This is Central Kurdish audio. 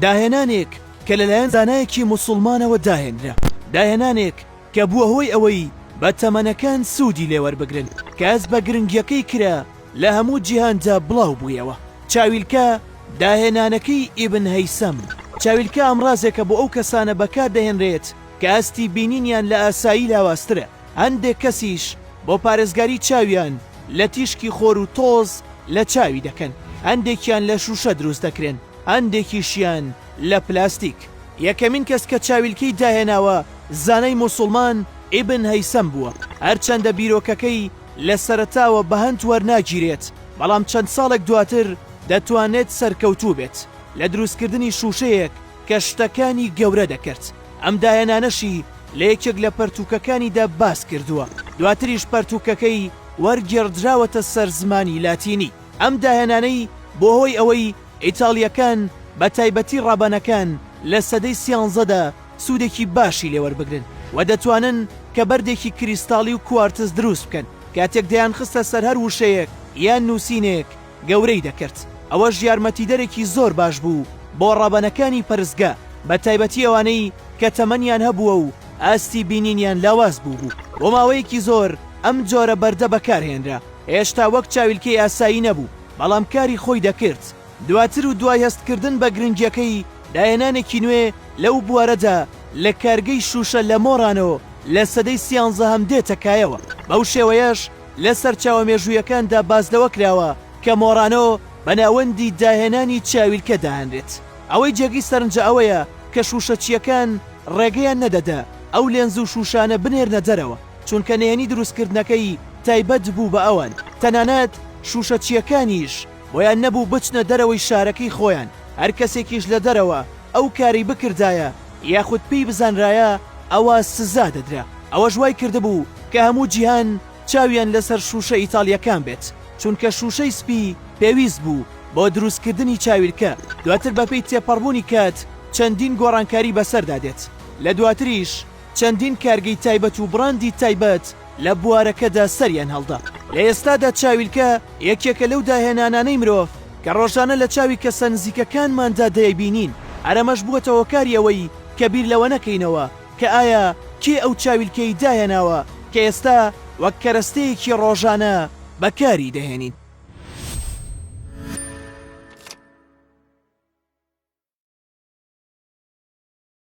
داهێنانێک کە لەلایەن زانایەکی موسڵمانەوە داهێنرا، داهێنانێک کە بووە هۆی ئەوەی بە تەمەنەکان سوودی لێ وەربگرن، کەس بە گرنگیەکەی کرا لە هەموو جیهاندا بڵاو بوویەوە. چاویلکە، داهێنانەکەی ئیبن هەیسەم چاویلکە ئامڕازێکە بۆ ئەو کەسانە بەکار دەهێنرێت کە ئاستی بینینیان لە ئاسایی لاوازترە، هەندێک کەسیش بۆ پارێزگاری چاویان لە تیشکی خۆر و تۆز لە چاوی دەکەن، هەندێکیان لە شووشە دروست دەکرێن، هەندێکیشیان لە پلاستیک. یەکەمین کەس کە چاویلکەی داهێناوە زانای موسوڵمان ئیبن هەیسەم بووە، هەرچەندە بیرۆکەکەی لە سەرەتاوە بەهەند وەرناگیرێت، بەڵام چەند ساڵێک دواتر دەتوانرێت سەرکەوتوو بێت لە دروستکردنی شووشەیەک، کە شتەکانی گەورە دەکرد، ئەم دایەنانەشی لە یەکێک لە پەرتووکەکانیدا باس کردووە، دواتریش پەرتووکەکەی وەرگێڕدراوەتە سەر زمانی لاتینی. ئەم دایەنانەی بووە هۆی ئەوەی ئیتاڵییەکان، بە تایبەتی ڕابانەکان لە سەدەی سیانزەدا سوودێکی باشی لێ وەربگرن و دەتوانن کە بەردێکی کریستاڵی و کوارتز دروست بکەن، کاتێک دەیانخستە سەر هەر وشەیەک یان نووسینێک، گەورەی دەکرد، ئەوەش یارمەتیدەرێکی زۆر باش بوو بۆ ڕەبەنەکانی پەرستگە، بەتایبەتی ئەوانەی کە تەمەنیان هەبووە و ئاستی بینینیان لاواز بووبوو. بۆ ماوەیەکی زۆر ئەم جۆرە بەردە بەکارهێنرا، هێشتا وەک چاویلکەی ئاسایی نەبوو، بەڵام کاری خۆی دەکرد. دواتر و دوای هەستکردن بە گرنگییەکەی، داهێنانێکی نوێ لەو بوارەدا لە کارگەی شووشە لە مۆرانۆ لە سەدەی سیانزەهەم دێتە کایەوە، بەو شێوەیەش لە سەرچاوە مێژوویەکاندا باس لەوە کراوە کە مۆرانۆ بە ناوەندی داهێنانی چاویلکە دادەنرێت. ئەوەی جێگەی سەرنجە ئەوەیە کە شووشەچییەکان ڕێگەیان نەدەدا ئەو لێنز و شووشانە بنێرنە دەرەوە، چونکە نهێنی دروستکردنەکەی تایبەت بوو بە ئەوان، تەنانەت شووشەچییەکانیش. بۆیان نەبوو بچنە دەرەوەی شارەکەی خۆیان، هەر کەسێکیش لە دەرەوە ئەو کارەی بکردایە یاخود پێی بزانرایە ئەوا سزا دەدرا، ئەوەش وای کردبوو کە هەموو جیهان چاویان لەسەر شووشە ئیتاڵییەکان بێت، چونکە شووشەی سپی پێویست بوو بۆ دروستکردنی چاویلکە، دواتر بەپێی تێپەڕبوونی کات چەندین گۆڕانکاری بەسەردا دێت، لە دواتریش چەندین کارگەی تایبەت و بڕاندی تایبەت لە بوارەکەدا سەریان هەڵدا. لە ئێستادا چاویلکە یەکێکە لەو داهێنانانەی مرۆڤ کە ڕۆژانە لە چاوی کەسە نزیکەکانماندا دەیبینین، هەر ئەمەش بووەتە هۆکاری ئەوەی کە بیر لەوە نەکەینەوە کە ئایا کێ ئەو چاویلکەی داهێناوە کە ئێستا وەک کەرەستەیەکی ڕۆژانە بەکاری دەهێنین.